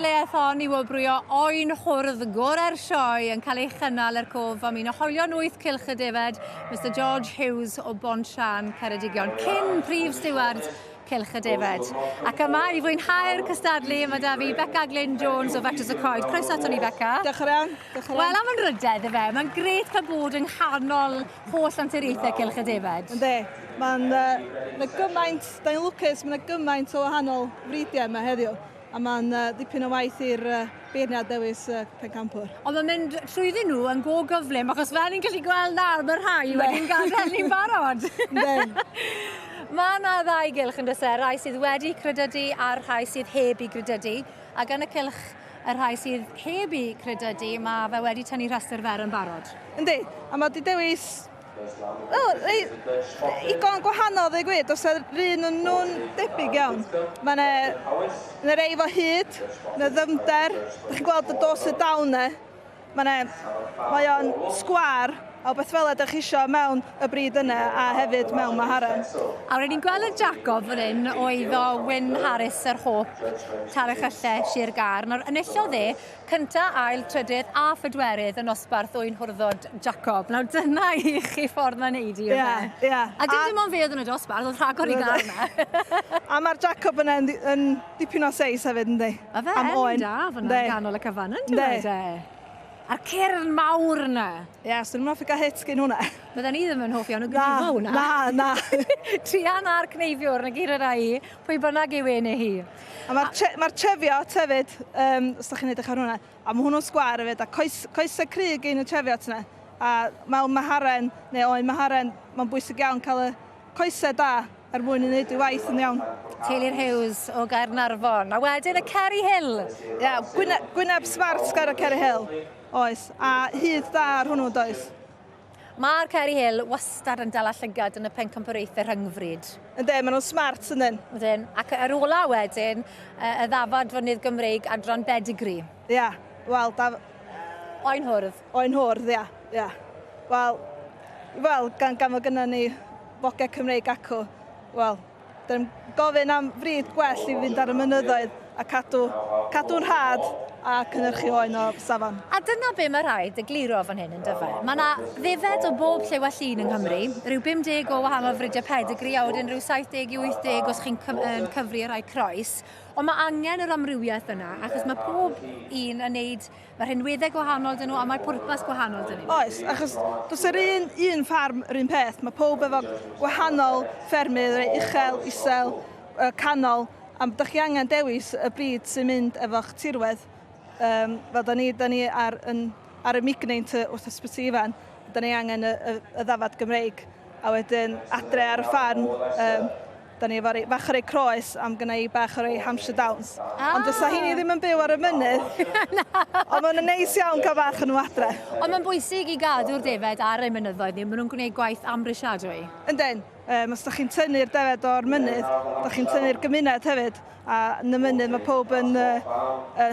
Lle aethon i wobrwyo oen hwrdd gorau'r sioe yn cael ei chynnal er cof am un o hoelion wyth Cylch y Defaid, Mister George Hughes o Bonsian, Ceredigion, cyn Prif Stiward Cylch y Defaid. Ac yma i fwynhau'r cystadlu, mae da fi Beca Glyn Jones o Vectors y Coed. Croeso ato ni, Beca. Diolch yn iawn. Diolch yn iawn. Wel, am yn rydedd, efe. Mae'n gret cael bod yng nghanol holl anturiaethau Cylch y Defaid. Ynddi. Mae'n uh, gymaint, da ni'n lwcus, mae'n gymaint o wahanol fridiau yma heddiw. a mae'n uh, ddipyn o waith i'r uh, beirniad dewis uh, pencampwr. Ond mae'n mynd trwyddyn nhw yn go gyflym, achos fel ni'n gallu gweld nawr, mae'r rhai yeah. wedi'n gadael ni'n barod. Mae yna ddau gylch yn dysau, rhai sydd wedi credydu a'r rhai sydd heb i gredydu. Ac yn y cylch y rhai sydd heb i credydu, mae fe wedi tynnu rhestr fer yn barod. Yndi, a mae wedi dewis Wel, ei, i gon gwahanol ddeg wir, dos ar un yn nhw'n debyg iawn. Mae yna, yna rei fo hyd, yna ddyfnder, da chi'n gweld y dos y dawn e. Mae yna, mae o'n sgwar, a beth fel ydych chi eisiau mewn y bryd yna, a hefyd mewn Maharen. A rydyn ni'n gweld y Jacob fan hyn, oedd o Wyn Harris yr Hop, Tarech Ylle, Sir Gar. Nawr, enillodd e Cynta, ail, trydydd a phedwerydd yn osbarth o'u nhwrdod Jacob. Nawr dyna i chi ffordd mae'n neud i. Ie, ie. A dim dim ond fe oedd yn y dosbarth, oedd rhagor i gael yna. A mae'r Jacob yna yn dipyn o seis hefyd, ynddi? Mae fe yn oen da fyna ganol y cyfan, yn dweud e? A'r cyrn mawr yna. Ie, yeah, swn i'n hoffi gael hit gyn hwnna. Bydden ni ddim yn hoffi ond o gwneud hwnna. Na, na. Trian a'r cneifiwr, na gyd yna i. pwy bynnag yw e neu hi. A mae'r tre, ma trefiot hefyd, um, os ydych chi'n edrych ar hwnna, a mae hwnnw'n sgwar hefyd, a coes, coesau cryg ein y trefiot yna. A mewn maharen, neu oen maharen, mae'n bwysig iawn cael y coesau da er mwyn i wneud ei waith yn iawn. Teulu'r Hughes o Gaernarfon. A wedyn y Ceri Hill. Ie, yeah, gwyneb, gwyneb smart gair y Ceri Hill. Oes, a hyd da ar hwnnw, does? Mae'r Kerry Hill wastad yn dala llygad yn y pencampwriaethau rhyngfryd. Yndyn, maen nhw'n smart yn hyn. Ydyn, ac yr ola wedyn, y ddafad fynydd Gymreig adran Bedigri. Ia, yeah. wel, da... Oen hwrdd. Oen hwrdd, ia, ia. Wel, wel, gan, gan fod gyda ni foge Cymreig acw, wel, Dyn ni'n gofyn am fryd gwell i fynd ar y mynyddoedd a cadw, cadw'n rhad a cynhyrchu oen o safon. A dyna be mae rhaid egluro fan hyn yn dyfe. Mae yna ddefaid o bob lle well un yng Nghymru, rhyw 50 o wahanol fridiau pedigree a wedyn rhyw 70 i 80 os chi'n cyfri y rhai croes, ond mae angen yr amrywiaeth yna achos mae pob un yn neud Mae rhinweddau gwahanol dyn nhw a mae pwrpas gwahanol dyn nhw. Oes, achos does yr un, un ffarm yr un peth. Mae pob efo gwahanol ffermydd, rei uchel, isel, canol, a ydych chi angen dewis y bryd sy'n mynd efo'ch tirwedd. Um, fel da ni, da ni ar, yn, ar y migneint wrth ysbyty ifan, da ni angen y, y, y ddafad Gymreig. A wedyn adre ar y ffarm, um, Da ni efo bach o rei croes am gyna i bach o rei Hampshire Downs. Ah. Ond fysa hi ddim yn byw ar y mynydd. Na. Ond mae'n neis iawn cael bach yn nhw adre. Ond mae'n bwysig i gadw'r defed ar ein mynyddoedd ni. Maen nhw'n gwneud gwaith amhrisiadwy. Yndyn. Um, os da chi'n tynnu'r defed o'r mynydd, da chi'n tynnu'r gymuned hefyd. A yn y mynydd mae pob yn uh,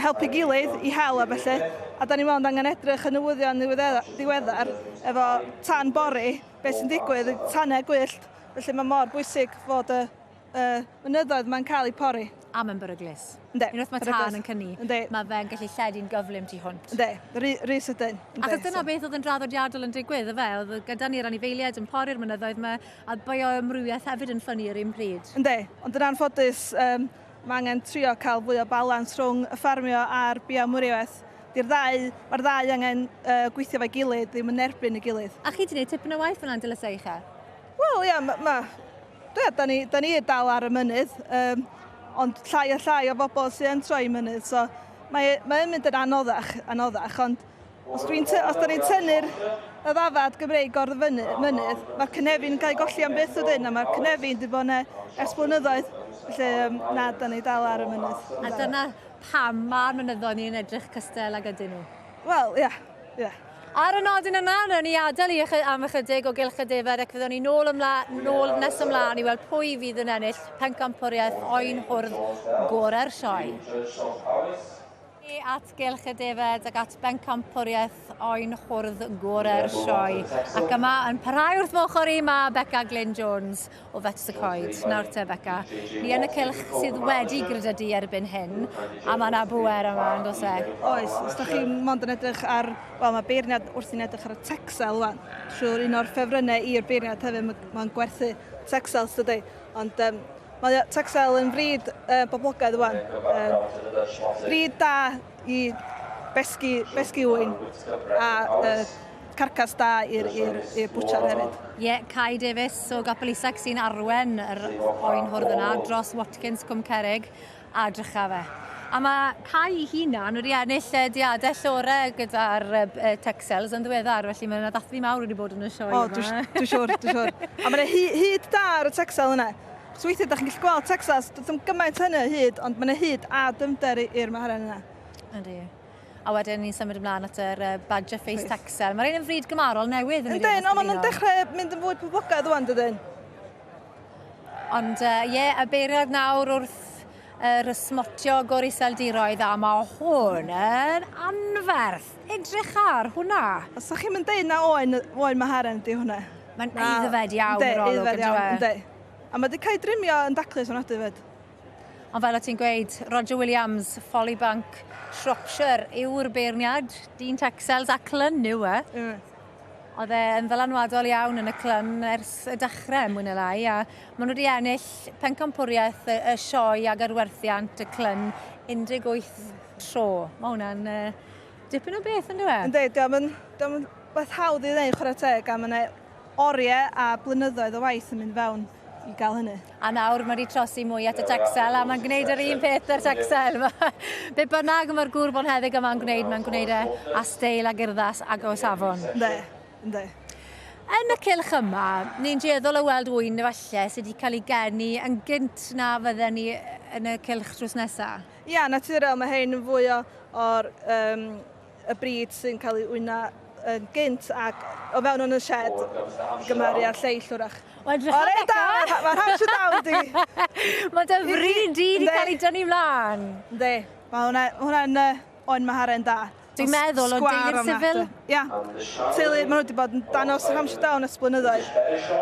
helpu gilydd i hel a felly. A da ni mewn angen edrych yn newyddion ddiweddar efo tan bori, beth sy'n digwydd, tanau gwyllt, Felly mae mor bwysig fod y, y mynyddoedd mae'n cael ei pori. A mae'n beryglus. Ynddi. Unwaith mae tân yn cynni, mae fe'n gallu lledu'n gyflym tu hwnt. Ynddi, rhy, rhy sydyn. Ac oedd dyna beth oedd yn draddodiadol yn digwydd, efe? Oedd gyda ni'r anifeiliaid yn pori'r mynyddoedd yma, a bioamrywiaeth hefyd yn ffynnu yr un pryd. Ynddi, ond yn anffodus, um, Mae angen trio cael fwy o balans rhwng y ffarmio a'r bioamrywiaeth. Di'r ddau, mae'r ddau angen uh, gweithio fo'i gilydd, ddim yn erbyn ei gilydd. A chi wedi gwneud tipyn o waith fyna'n dylysau i chi? Wel, ia, mae... Ma, yeah, da ni, da ni dal ar y mynydd, um, ond llai a llai o bobl sy'n troi i mynydd, so mae'n mae mynd yn anoddach, anoddach, ond Os dwi'n ty- os da ni'n tynnu'r y ddafad Gymreig gordd fyny, mynydd, mae'r cynefin gael golli am byth wedyn, a mae'r cynefin di bod yna ers blynyddoedd, felly um, na, da ni dal ar y mynydd. A dyna pam mae'r mynyddon ni'n edrych cystel ag ydyn nhw. Wel, ia, ia. Ar y nodyn yna, rhaid ni adael i ychy- am ychydig o gylch y defaid ac fyddwn ni nôl, ymla, nôl nes ymlaen i weld pwy fydd yn ennill pencampwriaeth oen hwrdd gorau'r sioe. at Gylch y Defaid ac at bencampwriaeth Oen Chwrdd Gorau'r Sioe. Ac yma yn parhau wrth fy ochr i mae Becca Glyn Jones o Fetws y Coed. Nawr te Becca, ni yn y cylch sydd wedi grydydu erbyn hyn, a mae yna bwer yma, yn dos e? Oes, os da chi'n mond yn edrych ar, wel mae beirniad wrth i'n edrych ar y Texel wan, trwy'r un o'r ffefrynnau i'r beirniad hefyd, mae'n gwerthu Texels dydy. Ond um, mae Texel yn frid uh, boblogaidd wan. Um, frid da i besgu, besgu wyn a uh, carcas da i'r bwtcher hefyd. Ie, yeah, Cai Davis o Gapel Isaac sy'n arwen yr oen hwrdd yna dros Watkins Cwm Cerig. A drycha fe. A mae Cai ei hunan wedi ennill y diadau llore gyda'r Texels yn ddiweddar, felly mae yna dathlu mawr wedi bod yn y sioe yma. O, dwi'n siwr, dwi'n siwr. A mae yna hyd da ar y Texel yna. Cos weithiau, da chi'n gallu gweld Texas, does dim gymaint hynny o hyd, ond mae yna hyd a dyfnder i'r maharen yna. Ydy. A wedyn ni'n symud ymlaen at yr Badger Face Texel. Mae'r un yn fryd gymarol newydd yn mynd i'n ysgrifennu. Yndyn, ond maen nhw'n dechrau mynd yn fwy poblogaidd o'n dydyn. Ond uh, ie, yeah, y beirniad nawr wrth yr ysmotio gor iseldiroedd a mae hwn yn anferth. Edrych ar hwnna. Os ydych chi'n mynd dweud na oen, oen mae haren ydi hwnna. Mae'n eiddfed iawn yr olwg yn dweud. A mae wedi cael ei drimio yn daclus o'n adeg fed. Ond fel o ti'n gweud, Roger Williams, Follybank, Shropshire yw'r beirniad, Dean Texels a Clun yw e. Mm. Oedd e yn ddylanwadol iawn yn y Clun ers y dechrau mwy na lai a maen nhw wedi ennill pencampwriaeth y, y sioe ag arwerthiant y Clun 18 tro. Mae hwnna'n uh, dipyn o beth yn dweud. Ynddi, diolch yn, diolch yn beth hawdd i ddweud chwarae teg a mae oriau a blynyddoedd o waith yn mynd fewn. i gael hynny. A nawr mae wedi trosi mwy at y Texel a mae'n gwneud yr un peth yr Texel. Be bynnag mae'r gŵr bonheddig yma'n gwneud, mae'n gwneud e a steil a gurddas ag o safon. Ynddo, ynddo. Yn y cylch yma, ni'n dueddol o weld wyn efallai sydd wedi cael ei geni yn gynt na fydden ni yn y cylch drws nesaf. Ia, yeah, naturol, mae hyn yn fwy o'r um, y brîd sy'n cael ei wyna yn gynt ac o fewn yn y shed i gymaru â'r lleill wrach. O, edrych ar Beca! Da, mae'r hamser da wedi. Mae dy frîd di wedi cael ei dynnu mlaen. Ynddi, mae hwnna, hwnna'n uh, o'n maharen da. Dwi'n meddwl o deulu'r sifil? Ia, teulu, maen nhw wedi bod yn danos yr hamser dawn at blynyddoedd.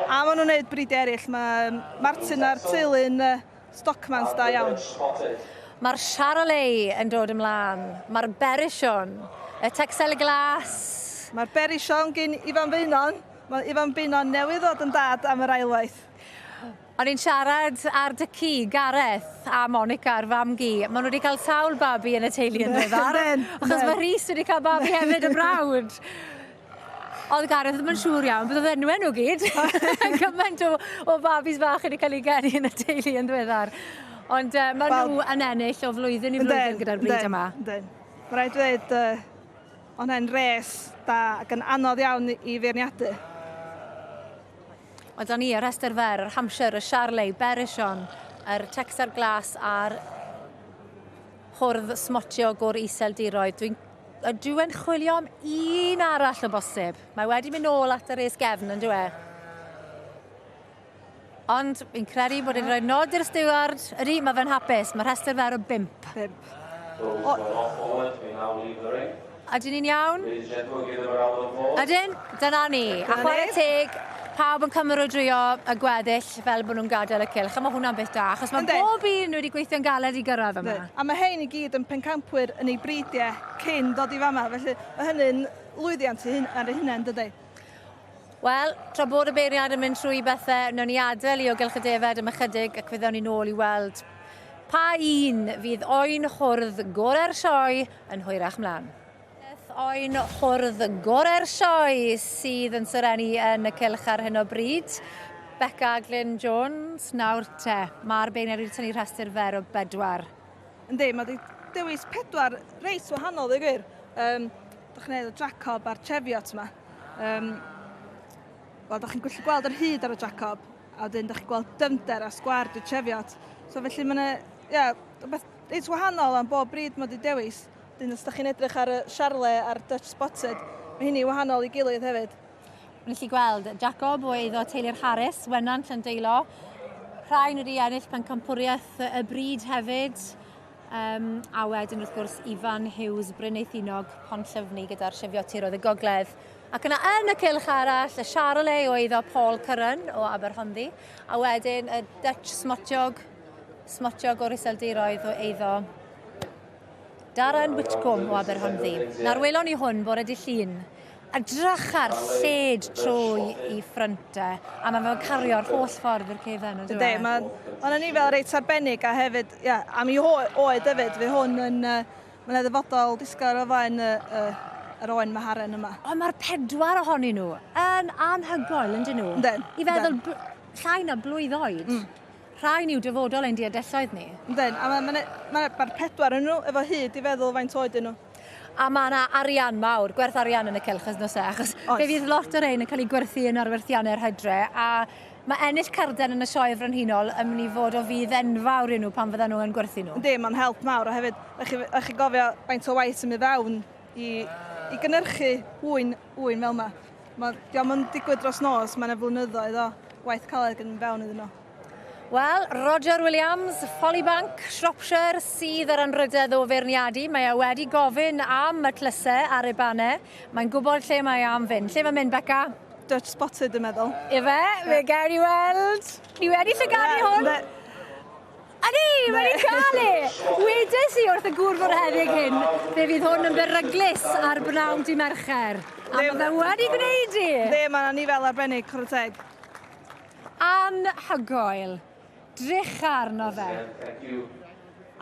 A maen nhw'n gwneud bridiau eraill. Mae Martin a'r teulu'n uh, Stockmans da iawn. Mae'r Charolais yn dod ymlaen. Mae'r Berrichon. Y Texel Glas. Mae'r Berrichon gin Ifan Beynon. Mae Ifan Beynon newydd ddod yn dad am yr ailwaith. O'n i'n siarad ar dy ci, Gareth, a Monica, ar fam gi. Mae nhw wedi cael sawl babi yn y teulu yn ddiweddar. Achos mae Rhys wedi cael babi hefyd, y brawd. Oedd Gareth ddim yn siŵr iawn beth oedd enwau nhw gyd. Cymaint o, o babis fach wedi cael ei geni yn y teulu yn ddiweddar. Ond uh, maen Wel- nhw yn ennill o flwyddyn i flwyddyn gyda'r bryd yma. Yndyn. Mae rhaid dweud, uh, o'n hen res da ac yn anodd iawn i feirniadu. Ond o'n ni, y rhestr fer, yr Hampshire, y Charley, Berishon, yr Texar Glas a'r hwrdd smotio gor iseldiroedd. Dwi'n Ydw e'n chwilio am un arall o bosib? Mae wedi mynd nôl at y res gefn, yn dweud. e? Ond fi'n credu bod yn rhoi nod i'r steward. Ydy, mae fe'n hapus. Mae rhestr fer o bimp. Bimp. Ydyn ni'n iawn? Ydyn. Dyna ni. A chwarae teg, pawb yn cymerodwyo y gweddill fel bod nhw'n gadael y cylch, a mae hwnna'n beth da, achos mae bob un wedi gweithio'n galed i gyrraedd yma. A mae hein i gyd yn pencampwyr yn eu breidiau cyn dod i fama, felly mae hynny'n lwyddiant ar ei hunain, dydy? Wel, tra bod y beirniaid yn mynd trwy bethau, wnawn ni adael i Ogelch y Defaid am ychydig ac fe ddawn ni nôl i weld pa un fydd oi'n hwrdd gorau'r sioe yn hwyrach mlaen. Beth oen chwrdd gorau'r sioe sydd yn syrennu yn y cylch ar hyn o bryd? Beca Glyn Jones, nawr te. Mae'r beirniaid wedi tynnu rhestr fer o bedwar. Yndi, mae wedi dewis pedwar reis wahanol, ddweud gwir. Um, da chi'n gwneud y Jacob a'r Cheviot yma. Um, Wel, da chi'n gwyllu gweld yr hyd ar y Jacob, a wedyn da chi'n gweld dyfnder a sgwar dy Cheviot. So felly mae'n, ie, yeah, reit wahanol am bob bryd mae wedi dewis. Wedyn os da chi'n edrych ar y Charlet a'r Dutch Spotted, mae hynny wahanol i gilydd hefyd. Mae'n gallu gweld Jacob o eiddo teulu'r Harris, Wenan Llandeilo. Rhain wedi ennill pencampwriaeth y bryd hefyd. Um, a wedyn wrth gwrs Ifan Hughes, Bryn Eithinog, Pont Llyfni gyda'r sefio tiroedd y gogledd. Ac yna yn y cylch arall, y Charolais o eiddo Paul Curran o Aberhonddu, a wedyn y Dutch Smotiog, Smotiog o'r Iseldiroedd o eiddo Darren Whitcomb o Aberhonddu. Nawr welon ni hwn bore dy llun. Edrycha'r lled trwy i ffrynt e, a mae fe'n cario'r holl ffordd i'r cefen, ynddo fe? Mae hwn yn fel reit arbennig, a hefyd, ia, am i oed hefyd, fe hwn yn, mae'n eddyfodol disgwyl o flaen y, y, yr oen maharen yma. Ond mae'r pedwar ohonyn nhw yn anhygoel, yndyn nhw? Yndyn. I feddwl, llai na blwydd oed. Mm. Rhain yw dyfodol ein diadelloedd ni. Yndyn, a mae yna, mae yna, mae'r pedwar yn nhw efo hyd i feddwl faint oed yn nhw. A mae yna arian mawr, gwerth arian yn y cylch, os nos e, achos Oes. fe fydd lot o rein yn cael ei gwerthu yn arwerthiannau'r hydre, a mae ennill carden yn y sioe frenhinol yn mynd i fod o fydd enfawr i nhw pan fyddan nhw yn gwerthu nhw. Yndyn, mae'n help mawr, a hefyd, rhaid chi, rhaid chi gofio faint o waith sy'n mynd fewn i, i gynnyrchu ŵyn Ŵyn, fel ma. ma di o'm yn digwydd dros nos, mae yna flynyddoedd o waith caled yn fewn iddyn nhw. Wel, Roger Williams, Follybank, Shropshire, sydd yr anrhydedd o feirniadu. Mae e wedi gofyn am y tlysau ar ei banne. Mae'n gwybod lle mae e am fynd. Lle mae'n mynd, Becca? Dutch spotted, yn meddwl. Ife? Fe gawn ni weld. Ni wedi llygadu hwn. A ni! Mae ni'n cael e! Wedes i wrth y gŵr forheddig hyn, fe fydd hwn yn beryglus ar bnawn dy Mercher. A mae fe wedi gwneud i! Dde, mae yna nifer arbennig, chwarae teg. Anhygoel. Drycha arno fe.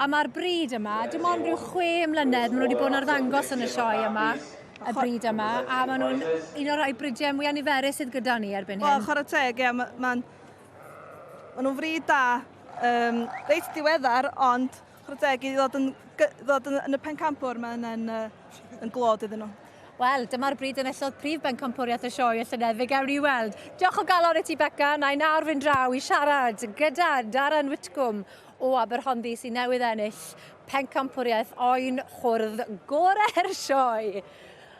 Am ar bryd yma, dim ond rhyw chwe mlynedd maen nhw wedi bod yn arddangos yn y sioe yma, y bryd yma, a maen nhw'n un o'r rhai bridiau mwyaf niferus sydd gyda ni erbyn hyn. Wel, chwarae teg, ie, mae'n Maen nhw'n fri da, um, reit diweddar, ond chwrdd deg i ddod yn, ddod yn, yn y pencampwr, mae yna'n uh, yn glod iddyn nhw. Wel, dyma'r bryd yn eithaf prif bencampwriaeth y sioe y llynedd, fe gawn ni weld. Diolch o galon i ti, Beca, na i nawr fynd draw i siarad gyda Darren Whitcomb o Aberhonddu sy'n newydd ennill pencampwriaeth oen chwrdd gorau'r sioe.